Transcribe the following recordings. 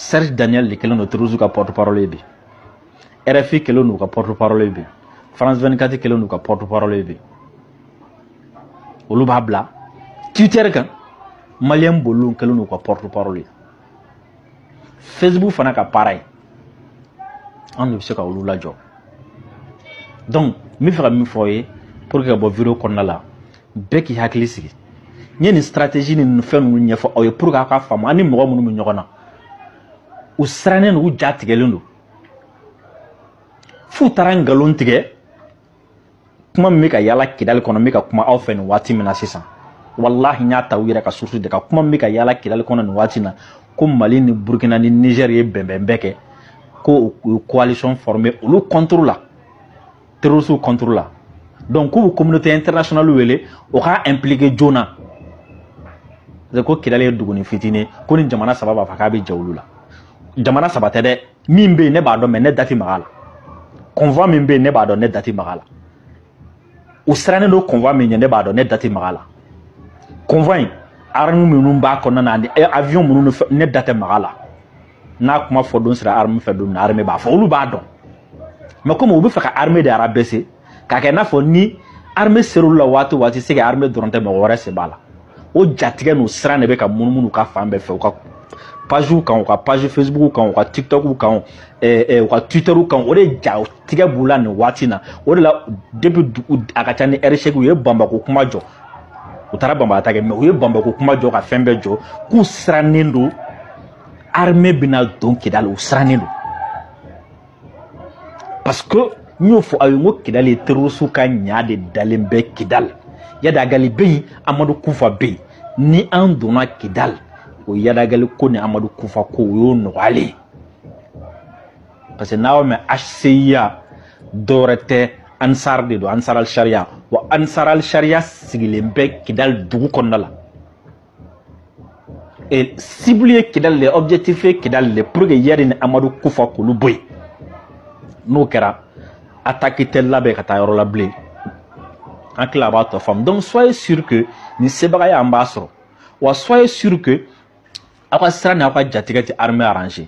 Serge Daniel de kɛlen don Terroristes ka porte parole ye bi. RFI kɛlen don u ka porte parole ye bi. France 24 kɛlen don u ka porte parole ye bi. Olu b'a bila Twitter kan Malien boliw kɛlen don u ka porte parole ye. Facebook fana kan pareil. An de bɛ se ka olu lajɔ. Donc n bɛ fɛ ka min fɔ aw ye pour que ka bɔ vidéo kɔnɔna la bɛɛ k'i hakili sigi n ye nin stratégie ni fɛn ninnu ɲɛfɔ aw ye pour que aw ka faamu an ni mɔgɔ minnu bɛ ɲɔgɔn na u sirannen don u ja tigɛlen don f'u taara nkalon tigɛ kuma min bɛ ka yaala kidali kɔnɔ n bɛ ka kuma aw fɛ nin waati min na sisan walahi n y'a ta u yɛrɛ ka source de ka kuma min bɛ ka yaala kidali kɔnɔ nin waati na ko mali ni burkina ni niger ye bɛnbɛnbɛn kɛ ko u ye coalition former olu contre la terrorisiw contre la donc k'u bɛ communauté internationale wele o k'a impliquer joona parce que kidali ye duguni fitinin ko ni jamana saba b'a fɔ k'a bɛ jɛ olu la jamana saba tɛ dɛ min bɛ yen ne b'a dɔn mais ne da tɛ maga la convoi min bɛ yen ne b'a dɔn ne da tɛ maga la u sirannen don convoi min bɛ yen ne b'a dɔn ne da tɛ maga la convoi in armes minnu b'a kɔnɔna na ani avion minnu ne da tɛ maga la n'a kuma fɔ don sera armée fɛ don min na armée b'a fɔ olu b'a dɔn mais comme u bɛ fɛ ka armée de rabaisser k'a kɛ i n'a fɔ ni armée ser'olu la waati o waati c'est que armée dɔrɔn tɛ mɔgɔ wɛrɛ sen b'a la o jatigɛ n'o siran de bɛ ka munumunu ka fan bɛɛ fɛ u ka pagew kan u ka page facebook kan u ka tiktok kan eh, eh, u ka twitter kan o de jatigɛ b'u la nin waati na o de la depuis a ka ca ni ɛri seegin u ye bamba ko kuma jɔ u taara bamba attaquer mais u ye bamba ko kuma jɔ ka fɛn bɛɛ jɔ k'u sirannen don armée bɛna don kidali u sirannen don parce que n y'o fɔ aw ye n ko kidali ye terorisiw ka ɲaga de dalen bɛ kidali iyad ag ghali bɛ yen amadu kufa bɛ yen ni an donna kidali o iyad ag ghali ko ni amadu kufa ko o y'o nɔgɔyalen ye parce que n'aw mɛn hcua dɔwɛrɛ tɛ ansar dine don ansar al sariya wa ansar al sariya sigilen bɛ kidali dugu kɔnɔna la Et cible ye kidali le objectif ye kidali le pour que iyad ni amadu kufa k'olu bɔ yen n'o kɛra attaque tɛ labɛn ka taa yɔrɔ la bilen n hakili la a b'a tɔ faamu donc soyez sûr que nin sebagaya an b'a sɔrɔ wa soyez sûr que aw ka siran ni aw ka jatigɛ tɛ armée arranger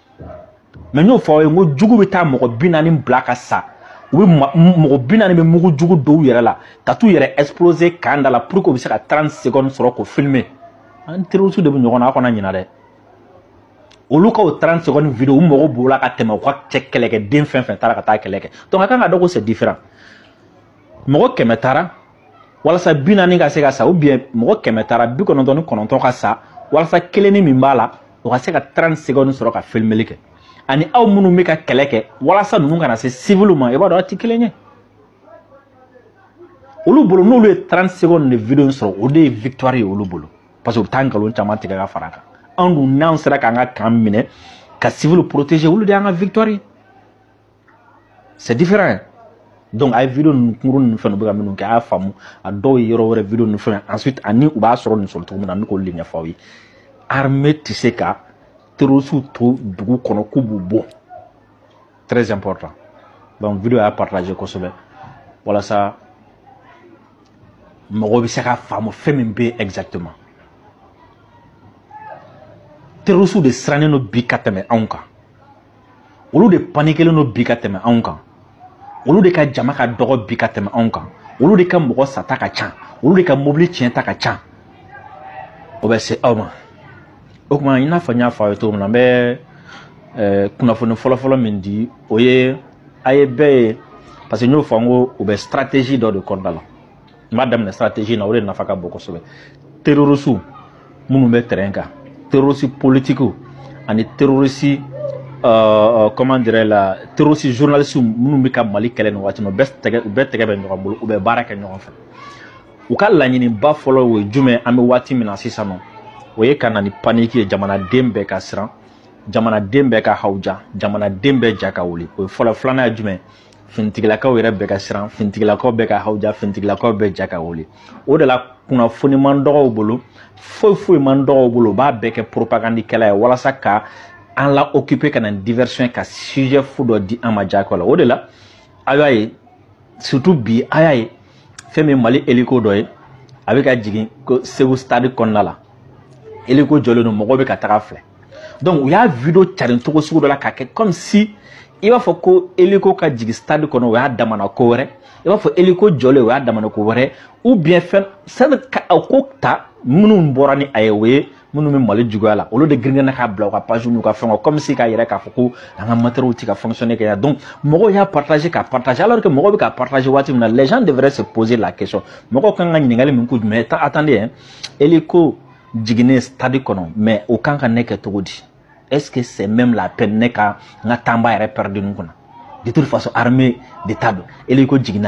mais n y'o fɔ aw ye n ko jugu bɛ taa mɔgɔ bi naani bila ka sa u bɛ mɔgɔ bi naani bɛ mugu jugu don u yɛrɛ la ka t'u yɛrɛ exploser camp da la pour que u bɛ se ka 30 secondes sɔrɔ k'o filmer an ni terroriste de bɛ ɲɔgɔn na aw kana ɲinɛ dɛ olu ka o 30 secondes video u mago b'o la ka tɛmɛ u ka cɛ kɛlɛkɛden fɛn o fɛn taara ka taa kɛlɛ kɛ donc a kan k'a dɔn ko c'est différent mɔgɔ kɛmɛ taara walasa bi naani ka se ka sa u bɛ diɲɛ mɔgɔ kɛmɛ taara bi kɔnɔntɔn ni kɔnɔntɔn ka sa walasa kelenni min b'a la o ka se ka 30 segɔni sɔrɔ ka filmeli kɛ ani aw minnu bɛ ka kɛlɛ kɛ walasa ninnu kana se siviliw ma i b'a dɔn aw tɛ kelen ye olu bolo n'olu ye 30 segɔni de video sɔrɔ o de ye victoire ye olu bolo parce que u bɛ taa nkalon caman tigɛ ka fara a kan anw dun n'an sera k'an ka kan minɛ ka siviliw protéger olu de y'an ka victoire ye c'est différent donc a ye video ninnu kunkurun ninnu fɛn u bɛ ka minnu kɛ a y'a faamu a dɔw ye yɔrɔ wɛrɛ video ninnu fɛn ensuite ani u b'a sɔrɔ nin sɔrɔ cogo min na an bɛ k'olu de ɲɛfɔ aw ye armée tɛ se ka terrorisiw to dugu kɔnɔ k'u b'u bɔ très important donc video a y'a partager kosɛbɛ walasa mɔgɔw bɛ se ka faamu fɛn min bɛ exactement terrorisiw de sirannen don bi ka tɛmɛ anw kan olu de panikelen don bi ka tɛmɛ anw kan olu de ka jama ka dɔgɔ bi ka tɛmɛ anw kan olu de ka mɔgɔ sata ka ca olu de ka mobili tiɲɛta ka ca o bɛ se aw ma o tuma i n'a fɔ n y'a fɔ aw ye cogo min na n bɛ eh, kunnafoni fɔlɔfɔlɔ min di o ye a ye bɛɛ ye parce que n y'o fɔ n ko u bɛ stratégie dɔ de kɔnɔna la n b'a daminɛ stratégie na o de nafa ka bon kosɛbɛ terrorisiw minnu bɛ terrain kan terrorisi politikiw ani terrorisi uh, comment dirais la terroriste journaliste minnu bɛ ka mali kɛlɛ nin waati na u bɛɛ tɛgɛ u bɛɛ tɛgɛ bɛ ɲɔgɔn bolo u bɛ baara kɛ ɲɔgɔn fɛ u ka laɲiniba fɔlɔ o ye jumɛn an bɛ waati min na sisan nɔ o ye ka na ni paniki ye jamanaden bɛɛ ka siran jamanaden bɛɛ ka hawuja jamanaden bɛɛ ja ka wuli o ye fɔlɔ filanan ye jumɛn finitigilakaw yɛrɛ bɛɛ ka siran finitigilakaw bɛɛ ka hawuja finitigilakaw bɛɛ ja ka wuli o de la kunnafoni man dɔgɔ u bolo foyi foyi man dɔgɔ u bolo u b'a bɛɛ kɛ poropagandikɛlan ye walasa ka an laokipe ka na diversion ka sujet fu dɔ di an ma jaako la o de la a y'a ye surtout bi a y'a ye fɛn min mali eliko dɔ ye a bɛ ka jigin ko segu stade kɔnɔna la eliko jɔlen don mɔgɔw bɛ ka taga a filɛ donc u y'a video carin cogo sugu dɔ la k'a kɛ comme si i b'a fɔ ko eliko ka jigin stade kɔnɔ o y'a damana ko wɛrɛ i b'a fɔ eliko jɔlen o y'a damana ko wɛrɛ ou bien fɛn sani ka a ko ta minnu bɔra ni a ye o ye minnu bɛ mali juguya la olu de girin ka na k'a bila u ka page n'u ka fɛnw comme si k'a yira k'a fɔ ko an ka matériaux tɛ ka fonctionner kɛ yan donc mɔgɔw y'a partager k'a partager alors que mɔgɔw bɛ k'a partager waati min na les gens devraient se poser la question mɔgɔw kan ka ɲininkali min kɛ o jumɛn attendez hein eliko jiginnen stade kɔnɔ mais o kan ka ne kɛ cogo di est ce que c'est même la peine ne ka n ka temps ba yɛrɛ pɛrɛdi nin kunna de toute façon armée de ta don eliko jiginna